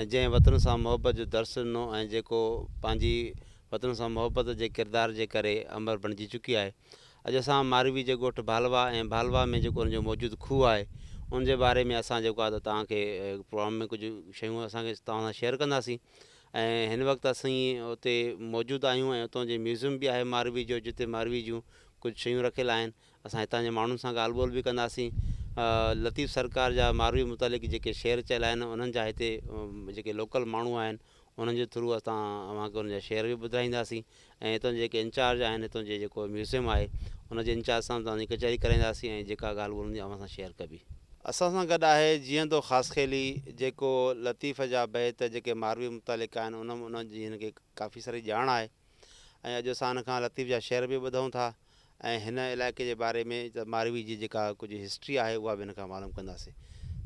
۽ جنهن وطن سان محبت جو درس ڏنو ۽ جيڪو پنهنجي وطن سان محبت جي ڪردار جي ڪري امر بڻجي چڪي آهي. اڄ اسان ماروي جي ڳوٺ ڀالوا ۽ ڀالوا ۾ جيڪو ان جو موجود کوهه آهي ان جي باري ۾ اسان جيڪو آهي ته توهان کي پروگرام ۾ ڪجهه شيون اسان کي توهان سان شيئر ڪنداسين ۽ هن وقت اسين اتي موجود آهيون ۽ اتان جي ميوزم به آهي ماروي جو جتي ماروي جون ڪجهه شيون رکيل آهن اسان هتان جي ماڻهن سان ڳالهه ٻولهه به ڪنداسين. لطيف سرڪار جا ماروي متعلق جيڪي شعر چيل آهن انهن جا هتي جيڪي لوڪل ماڻهو آهن انهن جي ٿرو اسان اوهان کي انهن جا شعر به ٻڌرائينداسين ۽ هتان جي جيڪي انچارج آهن هتان جي جيڪو ميوزيم آهي ان جي انچارج سان به توهان ڪچهري ڪرائينداسين ۽ جيڪا ڳالهه ٻولهه هوندي اوهان سان شيئر ڪبي. اسان سان گڏ آهي جيئندو خاصخيلي جيڪو لطيف جا بيت جيڪي ماروي متعلق آهن انهن جي هن کي ڪافي ساري ڄاڻ آهي ۽ اڄ اسان هن کان لطيف جا شعر به ٻڌون ٿا. ۽ هن علائقي جي باري ۾ ته ماروي جي جيڪا ڪجهه هسٽري آهي اها به هن کان معلوم ڪنداسين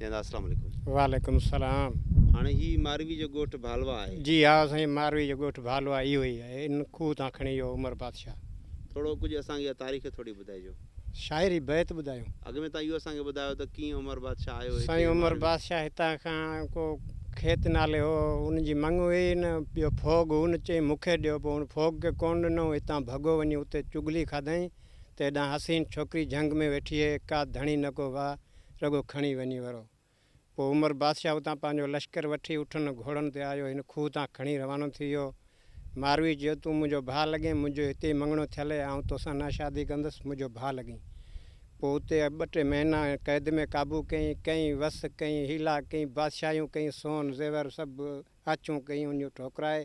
جناب السلام عليڪم. وعليڪم السلام. هاڻي هي ماروي جو ڳوٺ ڀالوا آهي. جي ها سائين ماروي جو ڳوٺ ڀالوا اهو ئي آهي ان کوهه تان کڻي اهو عمر بادشاهه. ٿورو ڪجهه اسان کي اها تاريخ ٿوري ٻڌائجو. شاعري بيت ٻڌايون. اڳ ۾ تان اهو اسان کي ٻڌايو ته ڪيئن عمر بادشاهه آيو هتي سائين عمر ماروي. بادشاهه هتان کان ڪو. کيت نالي هو، ان جي مڱ هئي ئي نه، ٻيو ڦوڳ هو نه، چيائين مون کي ڏيو، پوء هن ڦوڳ کي ڪونه ڏنو، هتان ڀڳو وڃي اتي چغلي کاڌائين ته هيڏانهن حسين ڇوڪري جهنگ ۾ ويٺي هي، ڪا ڌڻي نه ڪو واهه، رڳو کڻي وڃي ورو. پوء عمر بادشاهه اتان پنهنجو لشڪر وٺي اٺن ۽ گهوڙن تي آيو، هن کوهه تان کڻي روانو ٿي ويو، ماروي چيو، تون منهنجو ڀاء لڳين، منهنجو هتي ئي مڱڻو ٿيل هي، آئون توسان نه شادي ڪندس، منهنجو ڀاء لڳين. پوء اتي ٻه ٽي مهينا قيد ۾ قابو ڪيائين، ڪيئي وس، ڪيئي حيلا، ڪيئي بادشاهيون، ڪيئي سون زيور سڀ آڇون ڪيئي ان جون ٺوڪرائي،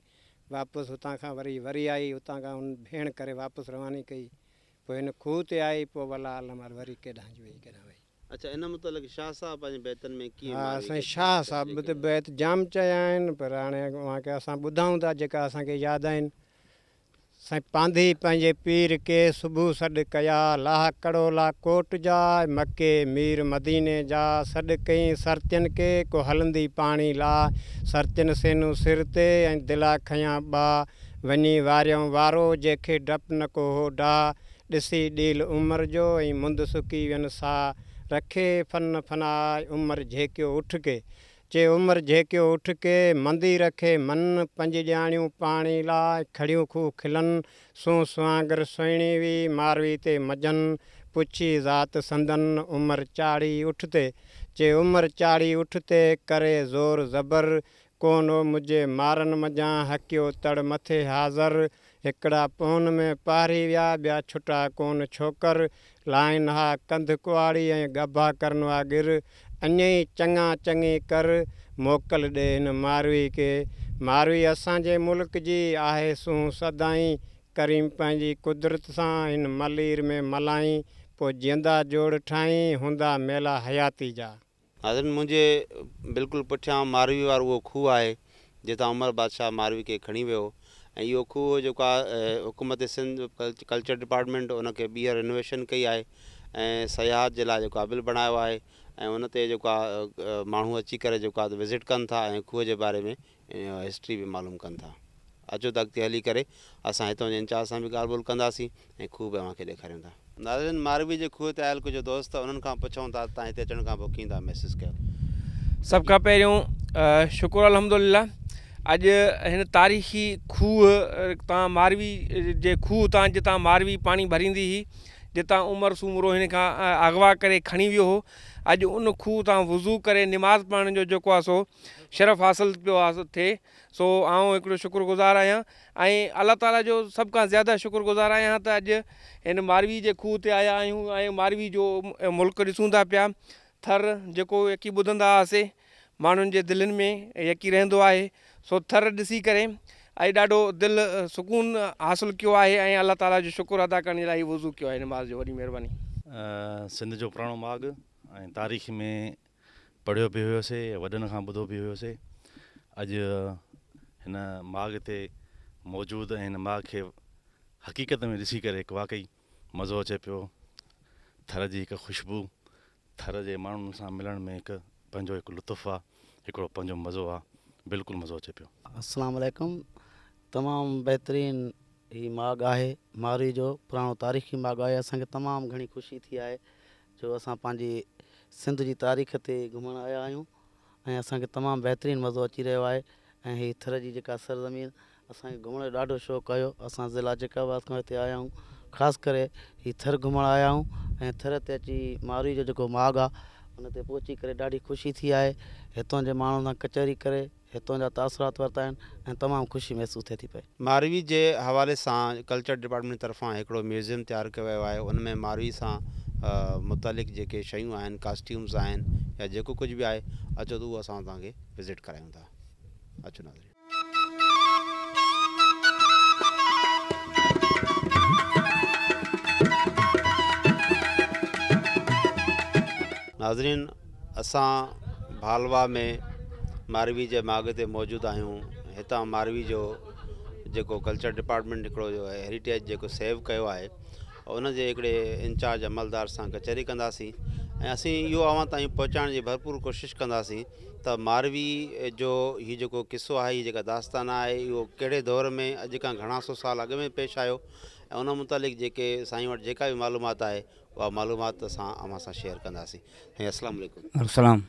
واپس هتان کان وري وري آئي، هتان کان هن ڀيڻ ڪري واپس رواني ڪئي، پوء هن کوهه تي آئي، پوء والله اعلم وري ڪيڏانهن جي ويئي ڪيڏانهن ويئي. اچا ان متعلق شاهه صاحب پنهنجي بيتن ۾ ڪيئن ها مارئي سائين شاهه صاحب به ته بيت جام چيا آهن پر هاڻي اوهان کي اسان ٻڌائون ٿا جيڪا اسان کي ياد آهن سائين پانڌي پنهنجي پير ڪي صبح سڏ ڪيا لاهه ڪڙولا ڪوٽ جا مڪي مير مديني جا سڏ ڪئين سرتين ڪي ڪو هلندي پاڻي لا سرتين سينون سر تي ۽ دلا کنيا ٻا وڃي واريائون وارو جي کي ڊپ نه ڪو هو ڊاهه ڏسي ڏيل عمر جو ۽ مند سڪي وين ساھ رکي فن فنا عمر جهيڪيو اٺ ڪي چي عمر جهيڪيو اٺ ڪي مندي رکي من پنج ڄاڻيون پاڻي لاء کڙيون کوھ کلن سون سوانگر سهڻي وي ماروي تي مجن پڇي ذات سندن عمر چاڙهي اٺ تي چي عمر چاڙهي اٺ تي ڪري زور زبر ڪو نو مجهي مارن منجهان هڪيو تڙ مٿي حاضر هڪڙا پون ۾ پاري ويا، ٻيا ڇٽا ڪون ڇوڪر، لائن ها ڪنڌ ڪئاڙي ۽ ڳڀا ڪرن ها ڳر، اڃ ئي چڱا چڱي ڪر، موڪل ڏي هن ماروي کي، ماروي اسان جي ملڪ جي آهي سونهن سدائين، ڪريم پنهنجي قدرت سان هن ملير ۾ ملائين، پوء جيئندا جوڙ ٺاهين، هوندا ميلا حياتي جا. ناظرين منهنجي بلڪل پٺيان ماروي وارو اهو کوهه آهي جتان عمر بادشاهه ماروي کي کڻي ويو ۽ اهو کوهه هو جيڪو حڪومت سنڌ ڪلچر ڊپارٽمينٽ ان کي ٻيهر رينوويشن ڪئي آهي ۽ سياحت جي لاء جيڪو آهي قابل بڻايو آهي ۽ ان تي جيڪو آهي ماڻهو اچي ڪري جيڪو آهي وزٽ ڪن ٿا ۽ کوهه جي باري ۾ ۽ هسٽري به معلوم ڪن ٿا. اچو ته اڳتي هلي ڪري اسان هتان جي انچارج سان به ڳالهه ٻولهه ڪنداسين ۽ کوهه به اوهان کي ڏيکاريون ٿا. ناظرين ماروي جي کوهه تي آيل ڪجهه دوست انهن کان پڇون ٿا ته تان هتي اچڻ کان پوء ڪيئن ٿا محسوس ڪيو. سڀ کان پهريون شڪر الحمدلله اڄ هن تاريخي کوهه تان ماروي جي کوهه تان جتان ماروي پاڻي ڀريندي هئي جتان عمر سومرو هن کان اغوا ڪري کڻي ويو هو اڄ ان کوهه تان وضو ڪري نماز پڙهڻ جو جيڪو آ سو شرف حاصل پيو ٿئي سو آئون هڪڙو شڪر گذار آهيان ۽ الله تعالي جو سڀ کان زياده شڪر گذار آهيان ته اڄ هن ماروي جي کوهه تي آيا آهيون ۽ ماروي جو ملڪ ڏسون ٿا پيا ٿر جيڪو يڪي ٻڌندا هئاسي ماڻهن جي دلين ۾ يڪي رهندو آهي سو ٿر ڏسي ڪري اڄ ڏاڍو دل سڪون حاصل ڪيو آهي ۽ الله تعالي جو شڪر ادا ڪرڻ جي لاء هي وضو ڪيو آهي نماز جو وڏي مهرباني. سنڌ جو پراڻو ماڳ ۽ تاريخ ۾ پڙهيو به هيوسي وڏن کان ٻڌو به هيوسي اڄ هن ماڳ تي موجود ۽ هن ماڳ کي حقيقت ۾ ڏسي ڪري هڪ واقعي مزو اچي پيو ٿر جي هڪ خوشبو ٿر جي ماڻهن سان ملڻ ۾ هڪ پنهنجو هڪ لطف آ هڪڙو پنهنجو مزو آ بلڪل مزو اچي پيو. السلام عليڪم تمام بهترين هي ماڳ آهي مارئي جو پراڻو تاريخي ماڳ آهي اسان کي تمام گهڻي خوشي ٿي آهي جو اسان پنهنجي سنڌ جي تاريخ تي گهمڻ آيا آهيون ۽ اسان کي تمام بهترين مزو اچي رهيو آهي ۽ هي ٿر جي جيڪا سرزمين اسان کي گهمڻ جو ڏاڍو شوق آهيو اسان ضلع جيڪب آباد کان هتي آيا آهيون خاص ڪري هي ٿر گهمڻ آيا آهيون ۽ ٿر تي اچي ماروئي جو جيڪو ماڳ آهي ان تي پهچي ڪري ڏاڍي خوشي ٿي آهي هتان جي ماڻهن سان ڪچهري ڪري هتان جا تاثرات ورتا آهن ۽ تمام خوشي محسوس ٿئي ٿي پئي. ماروي جي حوالي سان ڪلچر ڊپارٽمينٽ طرفان هڪڙو ميوزيم تيار ڪيو ويو آهي ان ۾ ماروي سان متعلق جيڪي شيون آهن ڪاسٽيومز آهن يا جيڪو ڪجهه به آهي اچو ته اهو اسان توهان کي وزٽ ڪرايون ٿا اچو ناظرين. ناظرين اسان ڀالوا ۾ ماروي جي ماڳ تي موجود آهيون هتان ماروي جو جيڪو ڪلچر ڊپارٽمنٽ هڪڙو جو هيريٽيج جيڪو سيو ڪيو آهي ان جي هڪڙي انچارج عملدار سان ڪچهري ڪنداسين ۽ اسين اهو اوهان تائين پهچائڻ جي ڀرپور ڪوشش ڪنداسين ته ماروي جو هي جيڪو قصو آهي هي جيڪا داستان آهي اهو ڪهڙي دور ۾ اڄ کان گهڻا سو سال اڳ ۾ پيش آيو ۽ ان متعلق جيڪي سائين وٽ جيڪا بي معلومات آهي اها معلومات اسان اوهان سان شيئر ڪنداسين سائين اسلام عليڪم السلام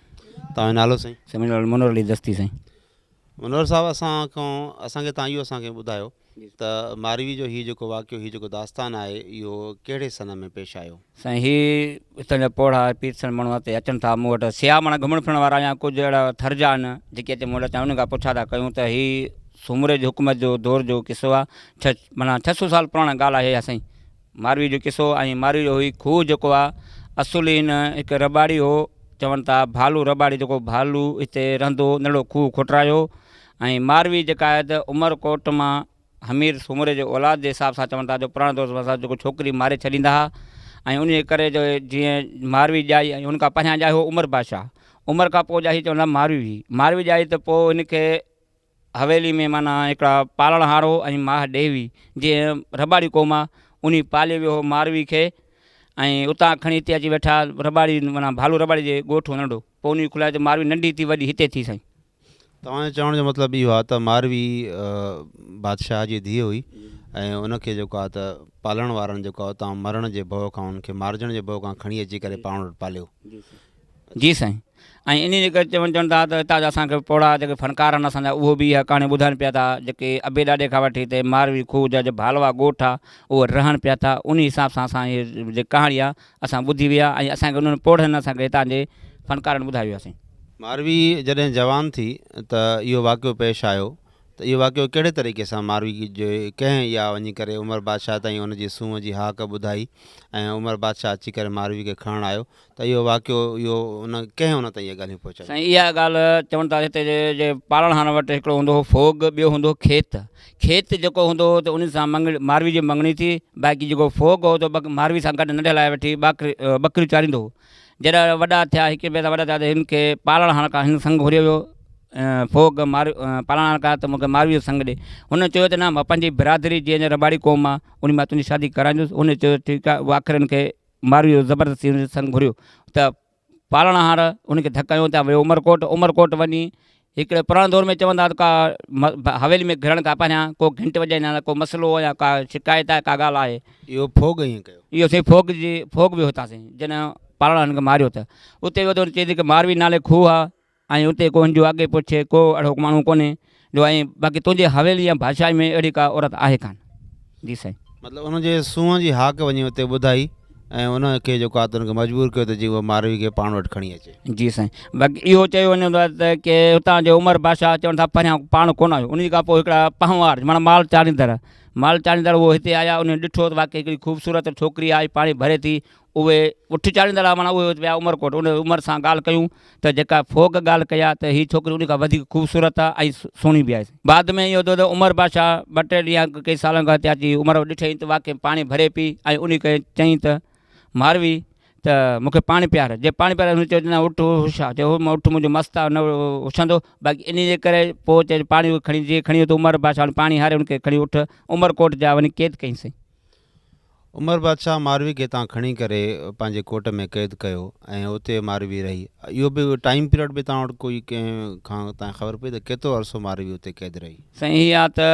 توهان جو نالو سائين سائين منهنجو نالو منور علي دستي سائين منور صاحب اسان کان اسان کي تان اهو اسان کي ٻڌايو ته ماروي جو هي جيڪو واقعو هي جيڪو داستان آهي اهو ڪهڙي سن ۾ پيش آيو سائين هي هتان جا پوڙها پير سن ماڻهو هتي اچن ٿا مون وٽ سياح ماڻا گهمڻ ڦرڻ وارا يا ڪجهه اهڙا ٿر جا آهن جيڪي اچي مون وٽ اچن انهن کان پڇا ٿا ڪيون ته هي سومري جي حڪومت جو دور جو قصو آهي ڇهه مانا ڇهه سو سال پراڻا ڳالهه آهي اها سائين ماروي جو قصو ۽ ماروي جو هي کوهه جيڪو آ اصل هي نه هڪ رٻاڙي هو چون ٿا ڀالو رٻاڙي جيڪو ڀالو هتي رهندو ان اهڙو کوهه کوٽرايو ۽ ماروي جيڪا آهي ته عمر ڪوٽ مان حمير سومري جي اولاد جي حساب سان چون ٿا جو پراڻي دور سان جيڪو ڇوڪري ماري ڇڏيندا ها ۽ انهي جي ڪري جو جيئن ماروي ڄائي ۽ ان کان پهريان ڄائي هو عمر بادشاهه عمر کان پوء ڄائي چون ٿا ماروي ماروي ڄائي ته پوء هن کي حويلي ۾ معنيٰ هڪڙا پالڻهار هو ۽ ماهه ڏيوي جي رباڙي قوم آ انهي پالي ويو هو ماروي کي ۽ اتان کڻي هتي اچي ويٺا رباڙي معنيٰ ڀالو رباڙي جي ڳوٺ هو ننڍو پوء انهي کلائي ته ماروي ننڍي ٿي وڏي هتي ٿي سائين. توهان جي چوڻ جو مطلب اهو آ ته ماروي بادشاهه جي ڌيء هئي ۽ ان کي جيڪو آ ته پالڻ وارن جيڪو آ اتان مرڻ جي ڀؤ کان ان کي مارجڻ جي ڀؤ کان کڻي اچي ڪري پاڻ وٽ پاليو. جي سائين ۽ انهي جي ڪري چون چون ٿا ته هتان جا اسان کي پوڙها جيڪي فنڪار آهن اسان جا اهو به اها ڪهاڻي ٻڌائن پيا ٿا جيڪي ابي ڏاڏي کان وٺي تي ماروي کوهه جا جي ڀالوا ڳوٺ آ اهي رهن پيا ٿا انهي حساب سان اسان هي جي ڪهاڻي آ اسان ٻڌي ويا ۽ اسان کي انهن پوڙهن اسان کي هتان جي فنڪارن ٻڌائي ويا سائين. ماروي جڏهن جوان ٿي ته اهو واقعو پيش آيو ته اهو واقعو ڪهڙي طريقي سان ماروي جي ڪنهن اها وڃي ڪري عمر بادشاهه تائين ان جي سونهن جي هاڪ ٻڌائي ۽ عمر بادشاهه اچي ڪري ماروي کي کڻڻ آيو ته اهو واقعو اهو ان ڪنهن ان تائين اهي ڳالهيون پهچايون. سائين اها ڳالهه چون ٿا هتي جي پاڙڻهارن وٽ هڪڙو هوندو هو ڦوڳ ٻيو هوندو هو کيت کيت جيڪو هوندو هو ته ان سان مڱڻي ماروي جي مڱڻي ٿي باقي جيڪو ڦوڳ هو ته ماروي سان گڏ ننڍي لاء وٺي ٻاڪري ٻڪريون چاريندو هو جڏهن وڏا ٿيا هڪ ٻئي سان وڏا ٿيا ته هن کي پاڙڻهار کان هن سڱ گهريو ويو ڦوڳ مارو پاڙڻهار کان ته مونکي ماروي جو سڱ ڏي هن چيو ته نه مان پنهنجي برادري جنهن جا رٻاڙي قوم آ انهي مان تنهنجي شادي ڪرائيندس هن چيو ٺيڪ آ آخر هن کي مارويء زبردستي هن جو سڱ گهريو ته پالڻهار ان کي ڌڪ هنيو ته ويو عمرڪوٽ، عمرڪوٽ وڃي هڪڙي پراڻي دور ۾ چون ٿا ته ڪا حويلي ۾ گهڙڻ کان پهريان ڪو گهنٽ وڄائيندا آهن ته ڪو مسئلو يا ڪا شڪايت آهي ڪا ڳالهه آهي. اهو ڦوڳ ائين ڪيو. اهو سائين ڦوڳ جي ڦوڳ ويو هتان سائين جڏهن پالڻهار هن کي ماريو ته اتي ويو ته هن چيو ته ماروي نالي کوهه آهي ۽ اتي ڪو هنجو آگي پڇي، ڪو اهڙو ماڻهو ڪونهي جو ائين باقي تنهنجي حويلي يا ڀاشائي ۾ اهڙي ڪا عورت آهي ڪانه. جي سائين. مطلب ان جي سونهن جي هاڪ وڃي اتي ٻڌائي ۽ ان کي جيڪو آهي تنهن کي مجبور ڪيو ته جيئن هوء ماروي کي پاڻ وٽ کڻي اچي. جي سائين. باقي اهو چيو وڃي ٿو ته ڪي هتان جي عمر بادشاهه چون ٿا پهريان پاڻ ڪونه آيو انهي کان پوء هڪڙا پنهوار معنيٰ مال چاڙهيندڙ مال چاڙهيندڙ هو هتي آيا انهن ڏٺو ته واقعي هڪڙي خوبصورت ڇوڪري آئي پاڻي ڀري ٿي اهي اٺ چاڙهيندڙ آ معنيٰ اهي اچ ويا عمرڪوٽ ان عمر سان ڳالهه ڪيون ته جيڪا فوڪ ڳالهه ڪئي آ ته هي ڇوڪري ان کان وڌيڪ خوبصورت آ ۽ سهڻي به آهي بعد ۾ اهو ٿيو ته عمر بادشاهه ٻه ٽي ڏينهن اڳ ڪئي سالن کان هتي اچي عمر ڏٺئين ته واقعي پاڻي ڀري پي ۽ ان کي چئين ته ماروي ته مون کي پاڻي پيار جي پاڻي پيار هن چيو ته نه اٺ هوش آ چيو هو اٺ منهنجو مست آ نه هوشندو باقي انهي جي ڪري پوء چئي پاڻي کڻي جي کڻي ويو ته عمر بادشاهه پاڻي هاري ان کي کڻي اٺ عمرڪوٽ جا وڃي قيد ڪئين سين عمر بادشاهه ماروي کي اتان کڻي ڪري پنهنجي ڪوٽ ۾ قيد ڪيو ۽ اتي ماروي رهي. اهو به ٽائيم پيريڊ به توهان وٽ ڪوئي ڪنهن کان تان خبر پئي ته ڪيترو عرصو ماروي اتي قيد رهي. سائين هي آ ته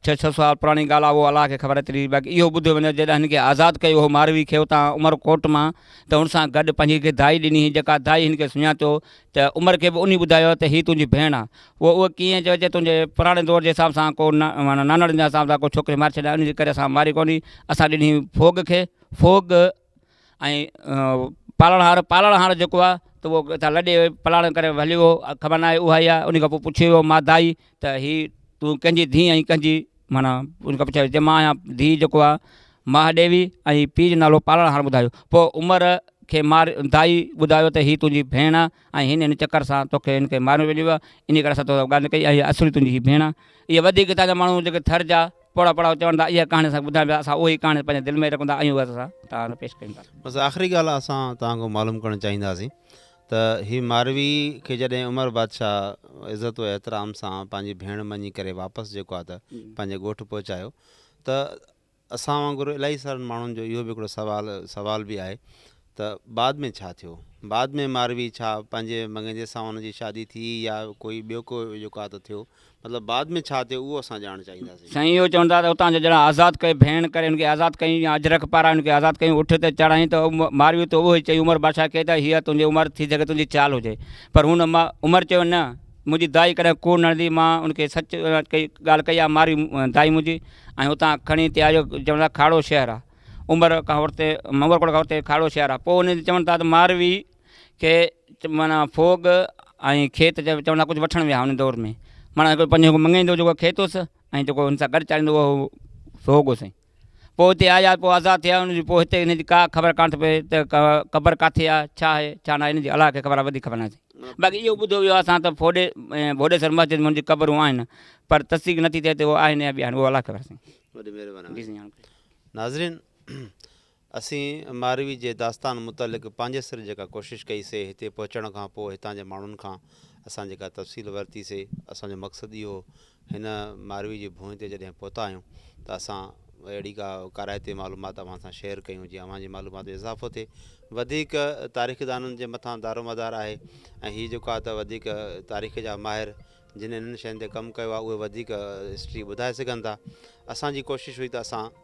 ڇهه ڇهه سال پراڻي ڳالهه آ اهو الله کي خبر ايتري باقي اهو ٻڌو وڃو جڏهن هن کي آزاد ڪيو هو ماروي کي اتان عمر ڪوٽ مان ته هن سان گڏ پنهنجي هڪ دائي ڏني هئي جيڪا دائي هن کي سڃاتو ته عمر کي به انهي ٻڌايو ته هي تنهنجي ڀيڻ آ. هو اهو ڪيئن چيو جي تنهنجي پراڻي دور جي حساب سان ڪو معنيٰ نانڻن جي حساب سان ڪو ڇوڪري ماري ڇڏيان انهي جي ڪري اسان ماري ڪونهي اسان ڏني ڦوڳ کي ڦوڳ ۽ پالڻهار پالڻهار جيڪو آ ته اهو اتان لڏي پلاڻ ڪري هليو ويو هو خبر ناهي اهائي آ انهي کان پوء پڇيو ويو مادائي ته هي تون ڪنهنجي ڌيء آهين ڪنهنجي معنيٰ ان کان پڇيائين چيم مان آهيان ڌيء جيڪو آ ماهه ڏيوي ۽ پيء جو نالو پالڻ هاڻ ٻڌايو پوء عمر کي مار دائي ٻڌايو ته هي تنهنجي ڀيڻ آ ۽ هن هن چڪر سان توکي هن کي مارڻ وڃيو آ انهي ڪري اسان تو سان ڳالهه نه ڪئي آ هي اصلي تنهنجي هي ڀيڻ آ اهي وڌيڪ هتان جا ماڻهو جيڪي ٿر جا پوڙها پڙها چون ٿا اها ڪهاڻي اسان کي ٻڌائين پيا اسان اهي ڪهاڻي پنهنجي دل ۾ رکون ٿا ۽ اهي اسان توهان سان پيش ڪيون ٿا. بس آخري ڳالهه اسان توهان کان معلوم ڪرڻ چاهينداسين ته هي ماروي کي جڏهن عمر بادشاهه عزت و احترام سان پنهنجي ڀيڻ مڃي ڪري واپس جيڪو آهي ته پنهنجي ڳوٺ پهچايو ته اسان وانگر الائي سارن ماڻهن جو اهو به هڪڙو سوال سوال به آهي ته بعد ۾ ڇا ٿيو بعد ۾ ماروي ڇا پنهنجي مڱجي سان ان جي شادي ٿي يا ڪوئي ٻيو ڪو جيڪو آهي ته ٿيو مطلب بعد ۾ ڇا ٿيو اهو اسان ڄاڻڻ چاهينداسين. سائين اهو چون ٿا ته اتان جو ڄڻ آزاد ڪيو ڀيڻ ڪري هن کي آزاد ڪيون يا اجرڪ پاران هن کي آزاد ڪيون اٺ تي چڙهائين ته ماريون ته اهو ئي چئي عمر بادشاهه کي ته هيء تنهنجي عمر ٿي سگهي تنهنجي چال هجي پر هن عمر چيو نه منهنجي دائي ڪڏهن ڪوڙ نه هڻندي مان هن کي سچ ڪئي ڳالهه ڪئي آ ماريون دائي منهنجي ۽ اتان کڻي تي آيو چون ٿا کاڙو شهر آ عمر کان ورتي عمرڪوٽ کان ورتي کاڙو شهر آ پوء ان چون ٿا ته ماروي کي معنيٰ ڦوڳ ۽ کيت چئي چوندا ڪجهه وٺڻ ويا ان دور ۾ معنيٰ هڪڙو پنهنجو هڪ مڱيندو جيڪو کيت هوس ۽ جيڪو هن سان گڏ چاليندو هو اهو ڦوڳ هو سائين پوء هتي آيا پوء آزاد ٿيا ان جي پوء هتي ان جي ڪا خبر ڪانه ٿي پئي ته قبر ڪاٿي آهي ڇا آهي ڇا ناهي ان جي الله کي خبر آهي وڌيڪ خبر ناهي سائين باقي اهو ٻڌو ويو آهي اسان ته ڦوڏي ڀوڏيسر مسجد ۾ ان جي قبرون آهن پر تصديق نٿي ٿئي ته اهو آهن يا ٻيا آهن اهو الله کي خبر سائين وڏي مهرباني جي سائين ناظرين اسين ماروي جي داستان متعلق پنهنجي سر جيڪا ڪوشش ڪئي سي هتي پهچڻ کان پوء هتان جي ماڻهن کان اسان جيڪا تفصيل ورتي سي اسان جو مقصد اهو هن ماروي جي ڀونء تي جڏهن پهتا آهيون ته اسان اهڙي ڪا ڪارائتي معلومات اوهان سان شيئر ڪيون جيئن اوهان جي معلومات ۾ اضافو ٿئي وڌيڪ تاريخدانن جي مٿان دارومدار آهي ۽ هي جيڪا ته وڌيڪ تاريخ جا ماهر جن انهن شين تي ڪم ڪيو آهي اهي وڌيڪ هسٽري ٻڌائي سگهن ٿا اسان جي ڪوشش هئي ته اسان